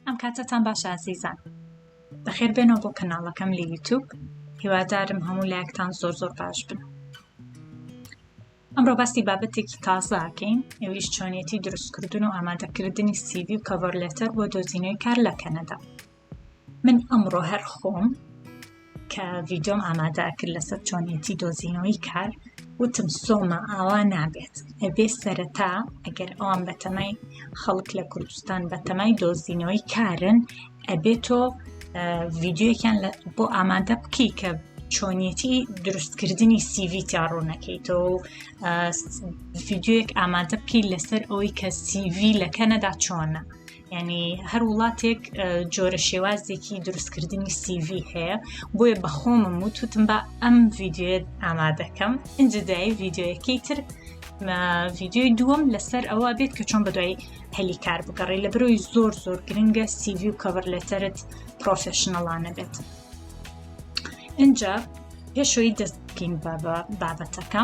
ئەم کاتەتان باشە ئازیزان بەخێر بێنەوە بۆ کەناڵەکەم لە یوتوب هیوادارم هەموو لایەکتان زۆر زۆر باش بن ئەمڕۆ باسی بابەتێکی تازاکەین ئەویش چۆنیەتی دروستکردن و ئامادەکردنی سیوی و کەڤەر لێتەر بۆ دۆزینەوەی کار لە کەنەدا من ئەمڕۆ هەر خۆم کە ڤیدۆم ئامادا کرد لەسەر چۆنیەتی دۆزینەوەی کار وتم سۆمە ئاوا نابێت ئەبێ سەرەتا ئەگەر ئەوان بەتەمای خەڵک لە کوردستان بەتەمای دۆزینەوەی کارن ئەبێت تۆ ڤیددیوەکیان بۆ ئامادە بکەی کە چۆنیەتی دروستکردنی سیڤی تیاڕوونەکەیتەوە ڤیددیوەک ئامادە بکەیت لەسەر ئەوەی کە سیڤی لە کەنەدا چۆنە ینی هەر وڵاتێک جۆرە شێوازێکی دروستکردنی سیV هەیە بۆیە بەخۆمم و توتم بە ئەم ڤیددیوێت ئامادەکەم ئەجددای ڤیددیوەکەی تر ڤیددیوی دووەم لەسەر ئەوە بێت کە چۆن بەدوای هەلی کار بگەڕێ لە برۆی زۆر زۆر گرنگە سیV و کەڤەر لەتەرت پرۆفشنەڵانە بێت اینجا پێشەوەی دەست بکەین بابەتەکە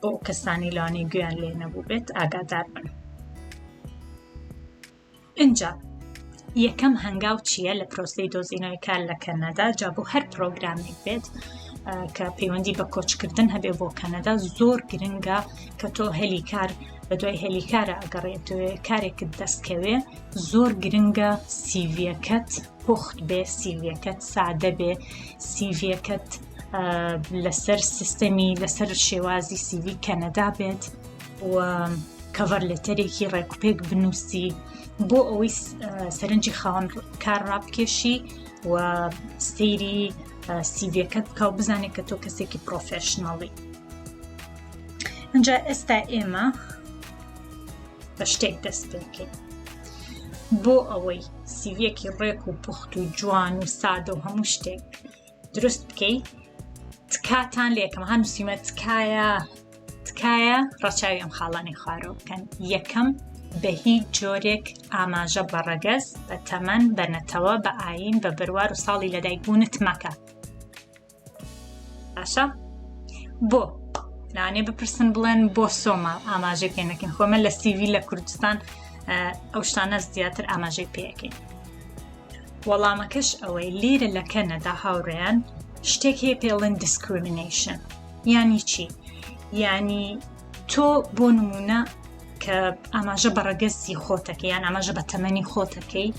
بۆ ئەو کەسانی لەوانەیە گوێیان لێ نەبووبێت ئاگادار بن اینجا یەکەم هەنگاو چییە لە پرۆسی دۆزینەوەی کار لە کەنەدا جا بۆ هەر پرۆگرامێک بێت کە پەیوەندی بە کۆچکردن هەبێ بۆ کەنەدا زۆر گرنگە کە تۆ هەلی کار بە دوای هەلی کارە ئەگەڕێتوێ کارێکت دەستکەوێ زۆر گرنگە سیڤەکەت پوخت بێ سیڤەکەت سادە بێ سیڤەکەت لەسەر سیستەمی لەسەر شێوازی سیوی کەنەدا بێت و کەڤەر لەتەرێکی ڕێکوپێک بنووسی بۆ ئەوەی سەرنجی خاوەن کار ڕابکێشی و سەیری سیڤەکەت بکە و بزانێت کە تۆ کەسێکی پرۆفشنناڵی ئەجا ئێستا ئێمە بە شتێک دەست پێکەین بۆ ئەوەی سیویەکی ڕێک و پوخت و جوان و سادە و هەموو شتێک دروست بکەی تکاتان لێکم هەم سیمە تکایە تکایە ڕەچاوی ئەم خاڵانی خوارۆ بکەن یەکەم بە هیچ جۆرێک ئاماژە بە ڕەگەز بە تەمەن بە نەتەوە بە ئاین بە بەروار و ساڵی لەدایک بوونت مەکە باشە بۆ لانێ بپرسن بڵێن بۆ سۆما ئاماژەی پێ نەکەین خۆمە لە سیوی لە کوردستان ئەو شتانە زیاتر ئاماژەی پێەکەین وەڵامەکەش ئەوەی لیرە لە کەنەدا هاوڕێیان شتێک هەیە پێڵن دیسکریمنیشن یانی چی ینی تۆ بۆ نمونە کە ئاماژە بە ڕەگەزی خۆتەکە یان ئاماژە بە تەمەنی خۆتەکەی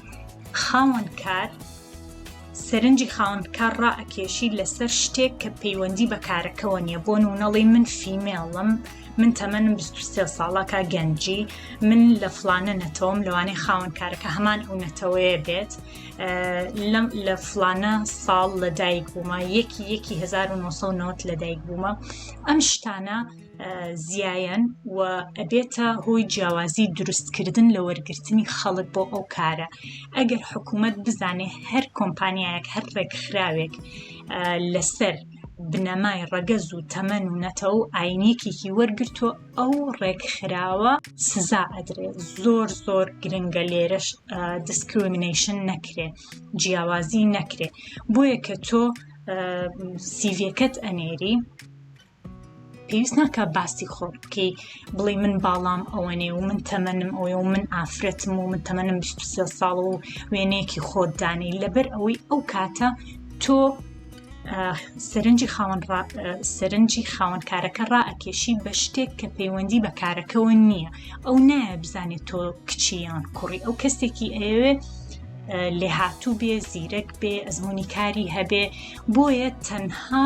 خاوەن کار سەرنجی خاوەن کار ڕائەکێشی لەسەر شتێک کە پەیوەندی بە کارەکەەوە نیە بۆ نونەڵی من فیمێڵم من تەمەنم بیست و سێ ساڵە کا گەنجی من لە فلانە نەتەوەم لەوانەی خاوەن کارەکە هەمان ئەو نەتەوەیە بێت لەم لە فلانە ساڵ لە دایک بوومە یەکی یەکی 1990 لە دایک بوومە ئەم شتانە زیایەن و ئەبێتە هۆی جیاوازی دروستکردن لە وەرگرتنی خەڵک بۆ ئەو کارە ئەگەر حکوومەت بزانێ هەر کۆمپانیایەک هەر ڕێکخراوێک لەسەر بنەمای ڕەگەز و تەمەن و نەتەوە و ئاینیەکێکی وەرگرتووە ئەو ڕێکخراوە سزا ئەدرێ زۆر زۆر گرنگە لێرەش دیسکریمنیشن نەکرێ جیاوازی نەکرێ بۆیە کە تۆ سیڤەکەت ئەنێری پێویست ناکە باسی خۆ بکەی بڵی من باڵام ئەوەنێ و من تەمەنم ئەوێ و من ئافرەتم و من تەمەنم 23 ساڵ و وێنەیەکی خۆت دانی لەبەر ئەوەی ئەو کاتە تۆ سەرنجی خاوەن سەرنجی خاوەنکارەکە ڕائەکێشی بە شتێک کە پەیوەندی بە کارەکەەوە نییە ئەو نایە بزانێت تۆ کچیان کوڕی ئەو کەسێکی ئەوێت لێهاتوو بێ زیرەک بێ ئەزمموی کاری هەبێ بۆیە تەنها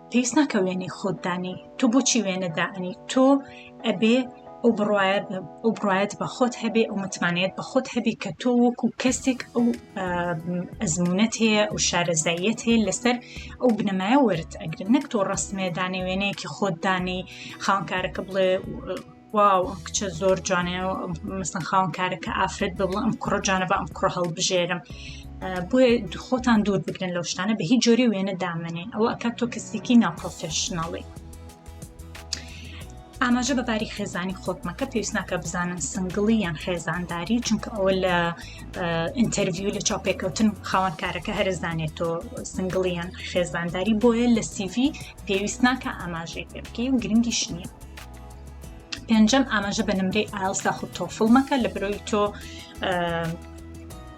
پێویست ناکە وێنەی خۆت دانی تۆ بۆچی وێنە دائنی تۆ ئەبێ ئەو بڕواە ئەو بڕایەت بە خۆت هەبێ ئەو متمانەت بە خۆت هەبێ کە تۆ وەکو کەسێک ئەو ئەزمونەت هەیە ئەو شارەزاییەت هەیە لەسەر ئەو بنەمایە وەرت ئەگرن نەک تۆ ڕستمێدانێ وێنەیەکی خۆت دانەی خاونکارەکە بڵێ واو ئەم کچە زۆر جوانێ مەسن خاون کارەکە ئافرەت بڵ ئەم کوڕە جانە بە ئەم کوڕە هەڵبژێرم بۆیە خۆتان دوور بگرن لەو شتانە بە هیچ جۆری وێنە دامنێن ئەوە ئەکە تۆ کەسێکی ناپۆفشنناڵی ئاماژە بە باری خێزانی خۆتمەکە پێویست ناکە بزانن سنگڵی یان خێزانداری چونکە ئەوە لە ئینتەرڤیو لە چاپێکەوتن خاوەن کارەکە هەرزانێت تۆ سنگڵی یان خێزانداری بۆیە لە سیڤی پێویست ناکە ئاماژەی پێ بکەی و گرنگیش نییە پێنجەم ئاماژە بە نمرەی ئایلس داخود تۆفڵ مەکە لە برۆی تۆ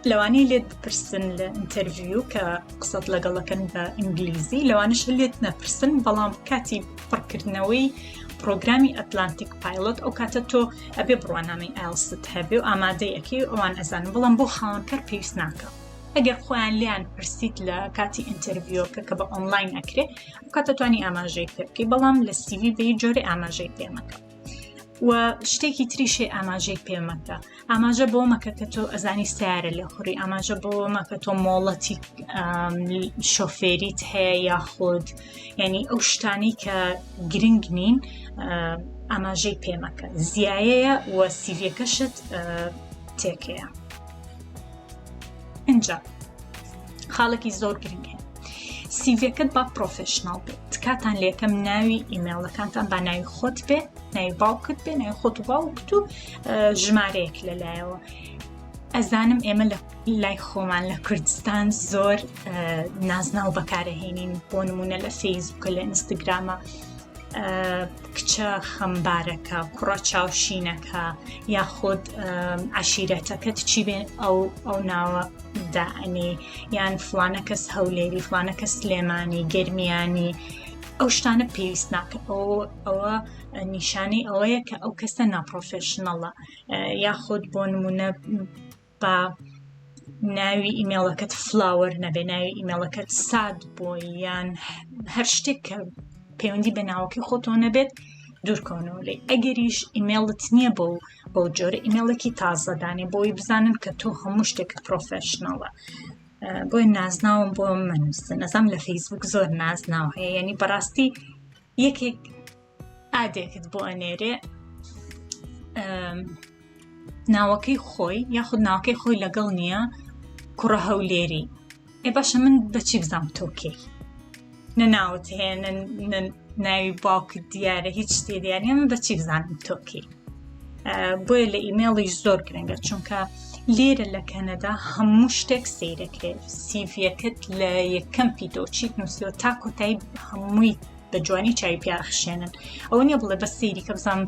لەوانەیە لێت بپرسن لە ئینتەرڤیو کە قسەت لەگەڵەکەن بە ئینگلیزی لەوانش لێت نەپرسن بەڵام کاتی پڕکردنەوەی پرۆگرامی ئەتلانتیک پایلۆت ئەو کاتە تۆ ئەبێ بڕوانامەی ئایلست هەبێ و ئامادەی ئەکی ئەوان ئەزانن بەڵام بۆ خاوەنکەر پێویست ناکە ئەگەر خۆیان لیان پرسیت لە کاتی ئینتەرڤیۆکە کە بە ئۆنلاین ئەکرێ کاتەتوانی ئاماژەی پێ بکەی بەڵام لە سیوی بێ جۆرە ئاماژەی پێمەکە و شتێکی تریشێ ئاماژەی پێمەکە ئاماژە بۆ مەکە کە تۆ ئەزانی سیارە لە خوری ئاماژە بۆ مەکە تۆ مۆڵەتی شۆفێریت هەیە یاخود ینی ئەو شتانی کە گرنگ نین ئاماژەی پێمەکە زیایەیە و سیڤەکەشت تێکەیە. ئینجا خاڵێکی زۆر گرنگێ سیڤەکەت با پرۆفشنناڵ بێت تکاتان لەکەم ناوی ئیممەڵەکانتان با ناوی خۆت بێ ناوی باوکت بێ ناوی خۆت و باوکت و ژمارەیەک لەلایەوە ئەزانم ئێمە لە لای خۆمان لە کوردستان زۆر نازناو بەکارەهێنین بۆ نمونە لە فەیسبووکە لە ئینستاگرامە کچە خەمبارەکە کوڕە چاوشینەکە یاخود عشیرەتەکەت چی بێن ئەو ئەو ناوە دائەنێ یان فلانە کەس هەولێری فلانە کە سلێمانی گرمیانی ئەو شتانە پێویست ناکە ئەو ئەوە نیشانەی ئەوەیە کە ئەو کەسە ناپۆفشنەڵە یاخود بۆ نمونە با ناوی ئیمێڵەکەت فلاوەر نەبێ ناوی ئیمێڵەکەت ساد بۆ یان هەر شتێک کە پەیوەندی بە ناوەکەی خۆتۆ نەبێت دوورکەونەوە لێ ئەگەریش ئیمێڵت نییە بۆ بەو جۆرە ئیمێڵێکی تازەدانێ بۆی بزانن کە تۆ هەموو شتێکت پرۆفشنەڵە بۆی نازناوم بۆ منووسن نەزام لە فەیسبوک زۆر نازناو هەیە ینی بەڕاستی یەکێک ئادێکت بۆ ئەنێرێ ناوەکەی خۆی یاخود ناوەکەی خۆی لەگەڵ نییە کوڕە هەولێری ئێ باشە من بەچی بزانام تۆکەی نە ناوت هەیە ناوی باوکت دیارە هیچ شتێ دیارە من بەچی بزانم تۆکەی بۆیە لە ئیمێڵیش زۆر گرنگە چونکە لێرە لە کەنەدا هەموو شتێک سیرەکرێت سیڤەکەت لە یەکەم پیدۆچیت نووسیەوە تا کۆتایی هەمووی بە جوانی چای پیا ئەخشێنن ئەوە نیە بڵێ بە سەیری کە بزانم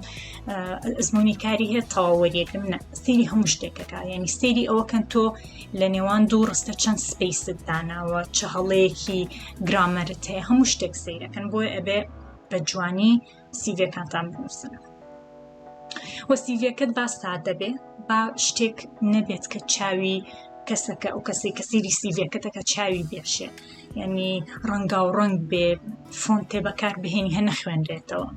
ئەزمموی کاری هەیە تەواوەریەکەم نە سەیری هەموو شتێکەکە ینی سەیری ئەوەکەن تۆ لە نێوان دوو ڕستە چەند سپیست داناوە چ هەڵەیەکی گرامەرت هەیە هەموو شتێک سیرەکەن بۆی ئەبێ بە جوانی سیڤەکانتان بنووسن. وە سیڤیەکەت با سادە بێ با شتێک نەبێت کە چاوی کەسەکە ئەو کەسی کە سیری سیڤەکەتەکە چاوی بێشێ یعنی ڕەنگا و ڕنگ بێ فۆنتێ بەکار بهێنی هەنە خوێنرێتەوە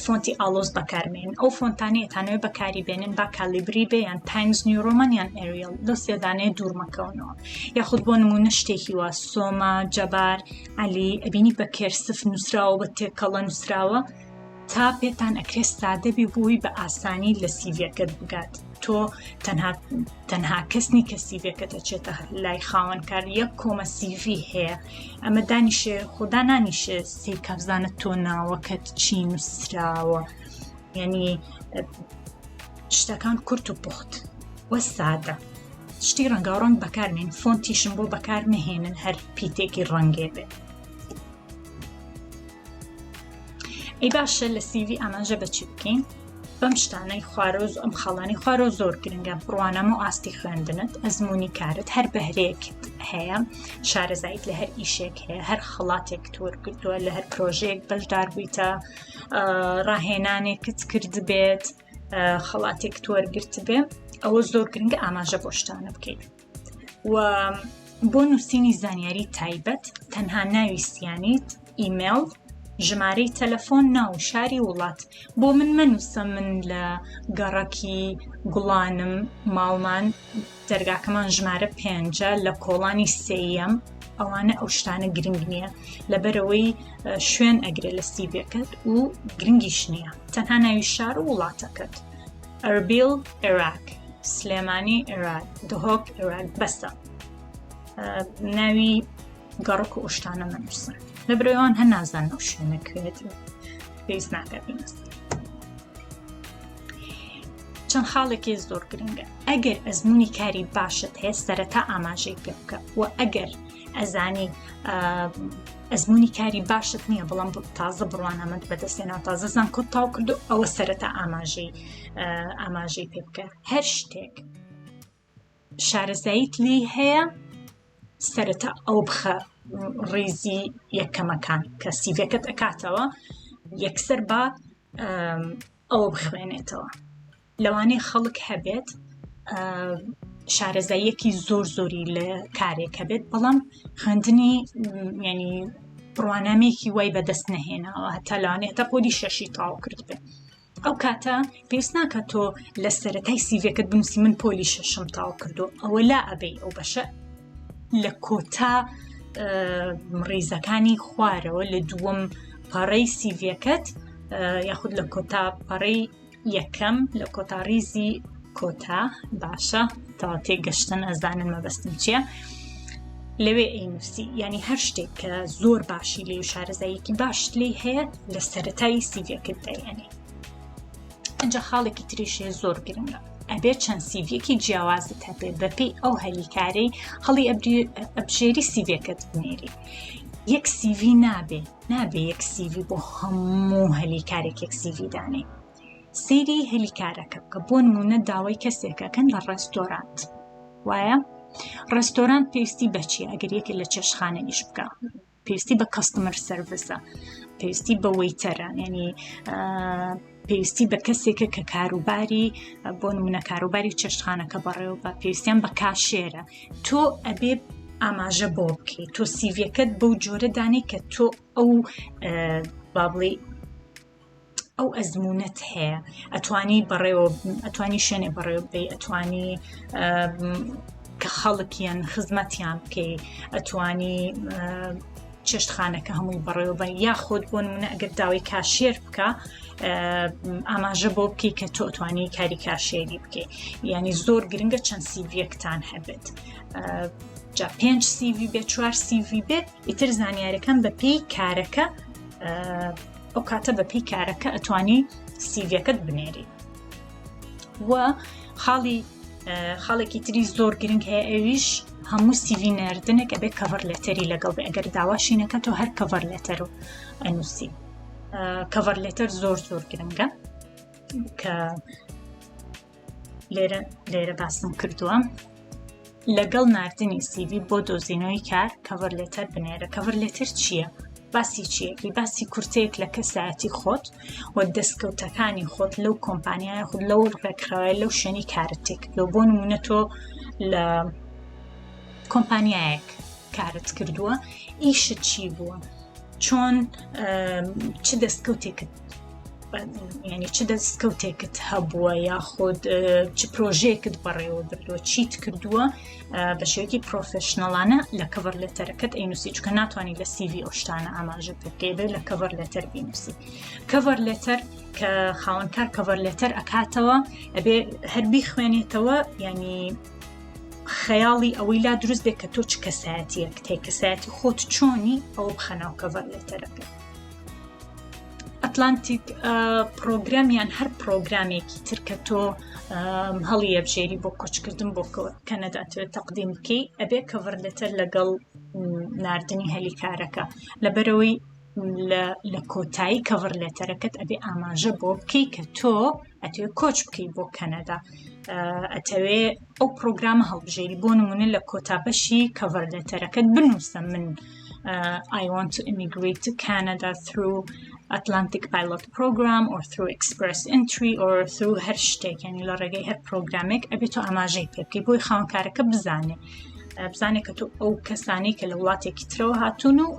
فۆنتی ئالۆز بەکارمێن ئەو فۆنتانێتانەوە بەکاری بێنن با کالیبری بێ یان تایمز نیورۆمان یان ئەریل لەو سێدانێ دوورمەکەونەوە یاخود بۆ نمونە شتێکی وا سۆما جەبار علی ئەبینی بە کێرسف نووسراوە بە تێکەڵە نووسراوە تا پێتان ئەکرێ سادە بێ بۆی بە ئاسانی لە سیڤەکەت بگات تۆ تەنها تەنها کەسنی کە سیڤەکە دەچێتە لای خاوەنکار یەک کۆمە سیڤی هەیە ئەمە دانیشێ خۆدا نانیشێ سی کابزانە تۆ ناوەکەت چی نووسراوە یعنی شتەکان کورت و پوخت وە سادە شتی ڕەنگاو ڕەنگ بەکارمێن فۆنتیشم بۆ بەکار نهێنن هەر پیتێکی ڕەنگێ بێت ئەی باشە لە سیوی ئاماژە بەچی بکەین بەم شتانەی خوارۆز ئەم خاڵانی خوارۆ زۆر گرنگە بڕوانەمە و ئاستی خوێندنت ئەزمموی کارت هەر بەهرێکت هەیە شارەزایت لە هەر ئیشێک هەیە هەر خڵاتێک تۆرکردووە لە هەر پرۆژەیەک بەشدار بوویتە ڕاهێنانێکت کرد بێت خڵاتێک تۆرگرت بێ ئەوە زۆر گرنگە ئاماژە بۆشتانە بکەیت و بۆ نووسینی زانیاری تایبەت تەنها ناویستیانیت ئیمێڵ ژمارەی تەلەفۆن ناو شاری وڵات بۆ من مەنووسە من لە گەڕەکی گوڵانم ماڵمان دەرگاکەمان ژمارە پێنجە لە کۆڵانی سێەم ئەوانە ئەو شتانە گرنگ نییە لەبەرەوەی شوێن ئەگرێ لە سیبەکەت و گرنگیش نییە تەنها ناوی شار و وڵاتەکەت ئەربیل عێراق سلێمانی عێراق دهۆک عێراق بەسە ناوی گەڕک و ئوشتانە نەنووسن لە برەوان هەر نازان ئەو شوێنە کوێت پێویست ناکات بنووسن چەند خاڵێکی زۆر گرنگە ئەگەر ئەزمموی کاری باشت هەیە سەرەتا ئاماژەی پێ بکە و ئەگەر ئەزانی ئەزمونی کاری باشت نییە بەڵام تازە بڕوانامەند بەدەستێنا تازە زان کۆت تاو کردو ئەوە سەرەتا ئاماژەی ئاماژەی پێ بکە هەر شتێک شارەزاییت لی هەیە سەرەتا ئەو بخە ڕیزی یەکەمەکان کە سیڤەکەت ئەکاتەوە یەکسەر بە ئەوە بخوێنێتەوە لەوانەیە خەڵک هەبێت شارەزاییەکی زۆر زۆری لە کارێک هەبێت بەڵام خوێندنی ینی ڕوانامێکی وای بەدەست نەهێناوە هەتا لەوانێت تا پۆلی شەشی تاو کرد بێت ئەو کاتە پێست ناکە تۆ لە سەرەتای سیڤەکەت بنووسی من پۆلی شەشم تاو کردو ئەوە لا ئەبەی ئەو بەشە لە کۆتا ڕیزەکانی خوارەوە لە دووەم پەڕەی سیڤەکەت یاخود لە کۆتا پەڕەی یەکەم لە کۆتا ریزی کۆتا باشە تا تێگەشتن ئەزانن مەبەستم چییە لەوێ ئەینوسی ینی هەر شتێک کە زۆر باشی لێ و شارەزاییەکی باش لی هەیە لە سەتای سیڤەکەت دەیەنێ ئەجا خاڵێکی تریشێ زۆر گرنگە ئەبێ چەند سیڤەکی جیاوازت هەبێ بەپی ئەو هەلیکارەی هەڵی ئەبژێری سیڤەکەت بنێری یەک سیڤی نابێ نابێ یەک سیڤی بۆ هەموو هەلی کارێک یەک سیڤی دانێ سەیری هەلی کارەکە بکە بۆ نمونە داوای کەسێکەکەن لە ڕێستۆرانت وایە ڕێستۆرانت پێویستی بەچی ئەگەر یەکە لە چێشخانە ئیش بکە پێویستی بە کەستمەر سەرڤسە پێویستی بە وەیتەرە ینی پێویستی بە کەسێکە کە کاروباری بۆ نمونە کاروباری چێشتخانەکە بەڕێوە بە پێویستیان بە کاشێرە تۆ ئەبێ ئاماژە بۆ بکەیت تۆ سیڤەکەت بەو جۆرە دانی کە تۆ ئەو بابڵی ئەو ئەزمونونەت هەیە ئەتوانی بەڕێوە ئەتوانی شوێنێ بەڕێوە بی ئەتوانی کە خەڵکیان خزمەتیان بکەی ئەتوانی چێشتخانەکە هەمووی بەڕێوەبەن یاخود بۆ نمونە ئەگەر داوای کاشێر بکە ئاماژە بۆ بکەی کە تۆ توانی کاری کاشێری بکەیت ینی زۆر گرنگە چەند سیڤەکتان هەبێت جا پێنج سیV بێ چوار سیV بێت ئیتر زانیارەکەم بە پێی کارەکە ئەو کاتە بە پێی کارەکە ئەتوانی سیڤەکەت بنێری و خاڵی خاڵێکی تری زۆر گرنگ هەیە ئەویش هەموو سیوی نردنێک ئەبێ کەڤەر لەتەری لەگەڵ بێ ئەگەر داواشی نەکە تۆ هەر کەڤەر لەتەر و ئەنووسی کەڤەر لەتەر زۆر زۆر گرنگە کە لێرە لێرە باسم کردووە لەگەڵ ناردنی سیڤی بۆ دۆزینەوەی کار کەڤەر لێتەر بنێرە کەڤەر لێتەر چییە؟ باسی چیەکی باسی کورتەیەک لە کەسایەتی خۆت و دەستکەوتەکانی خۆت لەو کۆمپانیایە خود لەو ڕێکخراوای لەو شوێنی کارت تێکردۆ بۆ نمونە تۆ لە کۆمپانیایەک کارت کردووە ئیشت چی بووە چۆن چ دەستکەوتێکت ینی چ دەستکەوتێکت هەبووە یاخود چ پرۆژێکت بەڕێوە بردووە چیت کردووە بە شێوکی پرۆفشنەڵانە لە کەڤەر لەتەرەکەت ئەینوسی چکە ناتوانانی لە سیV ئەوشتانە ئاماژە بکەێبێ لە کەڤەر لەتەر بینوسی کەڤەر لەتەر کە خاوەنکار کەڤەر لەتەر ئەکاتەوە ئەبێ هەربی خوێنێتەوە ینی خەیاڵی ئەوەی لا دروست بێت کە تۆ چ کەسایەتیەک تێ کەسایەتی خۆت چۆنی ئەو بخەناو کەڤەر لەتەرەکە ئەتلانتیک پرۆگرام یان هەر پرۆگرامێکی تر کە تۆ هەڵی یەبژێری بۆ کۆچکردن بۆ کەنەداتوێت تەقدیم بکەی ئەبێ کەڤەرلێتەر لەگەڵ نردنی هەلی کارەکە لەبەرەوەی لە کۆتایی کەڤڕ لێتەرەکەت ئەبێ ئاماژە بۆ بکەی کە تۆ ئەتوێ کۆچ بکەیت بۆ کەنەدا ئەتەوێ ئەو پرۆگرامە هەڵبژێری بۆ نمونە لە کۆتاپەشی کەڤەر لێتەرەکەت بنووسە من uh, I want to immigrate to Canada through Atlantic Pilot Program or through Express Entry or through هەر شتێک ینی لە ڕێگەی هەر پرۆگرامێک ئەبێت تۆ ئاماژەی پێ بکەی بۆی خاونکارەکە بزانێ بزانێت کە تۆ ئەو کەسانی کە لە وڵاتێکی ترەوە هاتوون و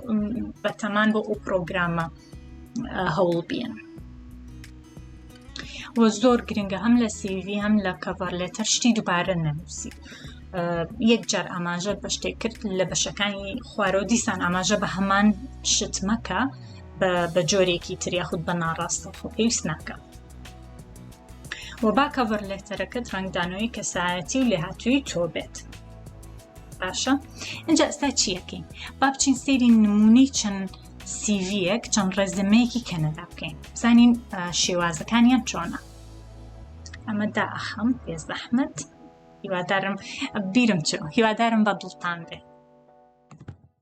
بەتەمان بۆ ئەو پرۆگرامە هەوڵ بیان. و زۆر گرنگە هەم لە سیوی هەم لە کەڤەر لێتەر شتی دووبارە نەنووسی یەک جار ئاماژە بە شتێک کرد لە بەشەکانی خوارەوە دیسان ئاماژە بە هەمان شت مەکە بە جۆرێکی تریا خودت بە ناڕاستە خۆ پێویست ناکە و با کەڤەر لێتەرەکەت ڕنگدانەوەی کەسایەتی و لێهاتووی تۆ بێت باشە ئەجا ئستا چیەکەین با بچین سێری نمونەی چەند سیڤیەک چەند ڕێزمەیەکی کەنەدا بکەین بزانین شێوازەکانیان چۆنە ئەمە داخم پێ زەحمت هیوادارم بیرم چ هیوادارم بە دڵتان بێ